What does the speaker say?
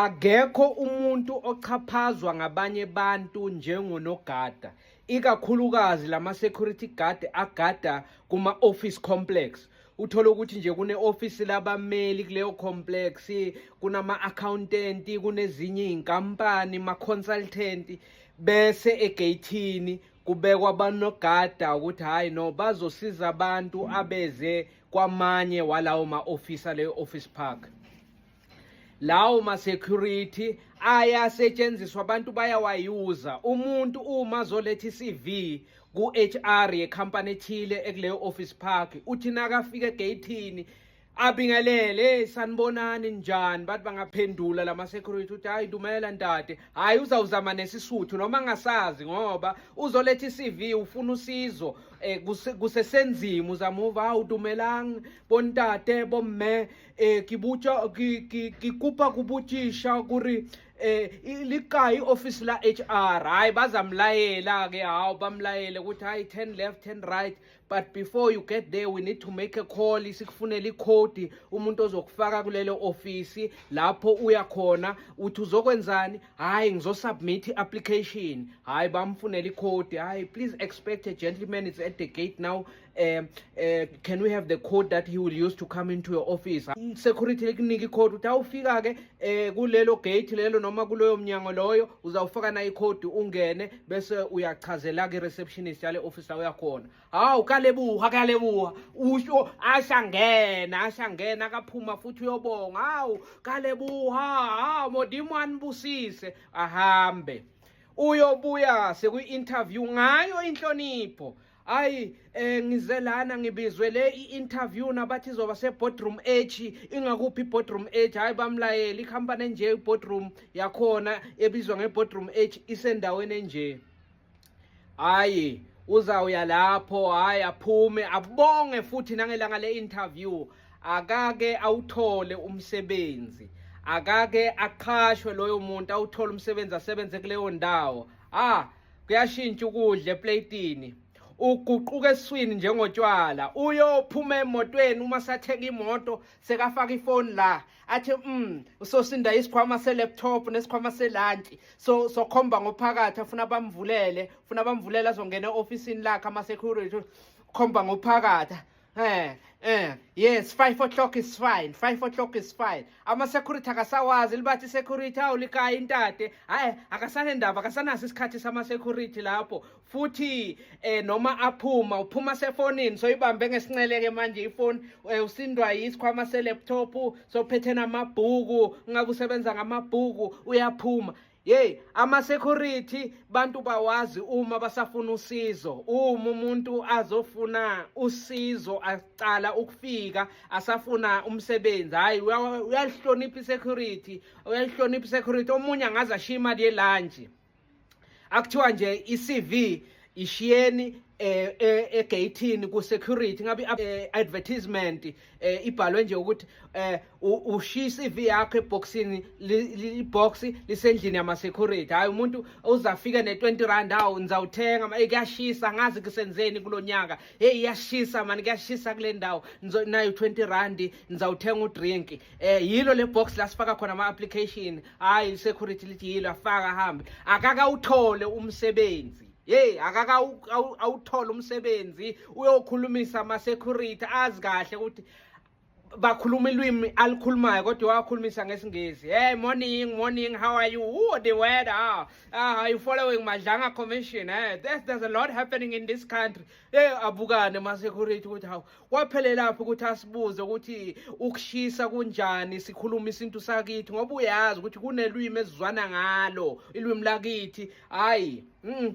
Akekho umuntu ochaphazwa ngabanye abantu njengonogada, ikakhulukazi lama security guard agada kuma office complex. Uthola ukuthi nje kune office labameli kuleyo complex, kunama accountant, kunezinye izinkampani, ma consultant bese egeyithini kubekwa abanogada ukuthi hayi no bazosiza abantu abeze kwamanye walawo ma office aleyo office park. lawo ma-security ayasetshenziswa abantu bayawayuza umuntu uma zoletha i-cv ku-hr yekhampani ethile ekuleyo office park uthi nakafika egeyithini abingelele sanibonani njani bathi bangaphendula lama security uthi hayi dumela ntate hayi uzawuzama nesisuthu noma ngasazi ngoba uzoletha i-CV ufuna usizo eh kusesenzima uzamuva hawu dumelang bontate bomme eh ke botša ke kopa go botšiša gore eh le kae office la HR hayi bazamlayela ke hawo bamlayele ukuthi hayi turn left turn right but before you get there we need to make a call isikufunela icode umuntu ozokufaka kulelo office lapho uya khona uthi uzokwenzani hayi ngizosubmit application hayi bamfunela icode hayi please expect a gentleman is at the gate now um um can we have the code that he will use to come into your office security likunika icode ukuthi awufika-ke um eh, kulelo gate lelo noma kuloyo mnyango loyo uzawufaka na ikhodi ungene bese uyachazela-ke i-receptionist yale office la uyakhona hawu kalebuha kalebuha usho ashangena ashangena akaphuma futhi uyobonga hawu kalebuha hawu modimo anibusise ahambe uyobuya sekwi-interview ngayo inhlonipho hayi eh ngize lana ngibizwe le i-interview nabathi izoba se-boardroom h ingakuphi i-boardroom h hhayi bamlayeli ikhampani enje i-boardroom yakhona ebizwa nge-boardroom h isendaweni enje hhayi uzawuya lapho hhayi aphume abonge futhi nangelanga le-interview akake awuthole umsebenzi akake aqhashwe loyo muntu awuthole umsebenzi asebenze kuleyo ndawo ah kuyashintsha ukudla eplatini uguquka eswini njengotshwala uyophuma emotweni uma satheka imoto sekafaka ifoni la athi mm usosinda isikhwama selaptop nesikhwama selunch so sokhomba ngophakathi afuna bamvulele ufuna bamvulele azongena eofisini lakhe ama security khomba ngophakathi Eh, eh, yes, 5 o'clock is fine. 5 o'clock is fine. Ama security akasawazi libathi security awulikaya intate. Hayi, akasane ndaba, akasanaso isikhathi sama security lapho. Futhi eh noma aphuma, uphuma sefonini, so ibambe ngesinceleke manje ifoni, eh, usindwa yisikhwama se laptop, so phethena amabhuku, ngakusebenza ngamabhuku, uyaphuma. Yey ama security bantu bawazi uma basafuna usizo uma umuntu azofuna usizo aqala ukufika asafuna umsebenzi hayi uyalihlonipha security uyalihlonipha security omunye angaze ashiye imali yelunch akuthiwa nje iCV ishiyeni eh, eh egate ku security ngabe eh, advertisement eh ibhalwe nje ukuthi eh ushiya iCV yakhe eboxini libox lisendlini yama security hayi umuntu uzafika ne 20 rand awu ngizawuthenga manje kuyashisa ngazi kusenzeni kulonyaka hey iyashisa mani kuyashisa kule ndawo nayo 20 rand ngizawuthenga u drink eh yilo le box la sifaka khona ama application hayi security lithi yilo afaka hambe akaka uthole umsebenzi Hey akaka awuthola umsebenzi uyokhulumisa ama security azi kahle ukuthi bakhuluma ilwimi alikhulumayo kodwa wakhulumisa ngesingisi hey morning morning how are you oh the weather ah, ah are you following madlanga commission eh there's, there's a lot happening in this country hey abukane ma security ukuthi hawu kwaphelelaphi ukuthi asibuze ukuthi ukushisa kunjani sikhuluma isintu sakithi ngoba uyazi ukuthi kunelwimi ezizwana ngalo ilwimi lakithi hayi mm.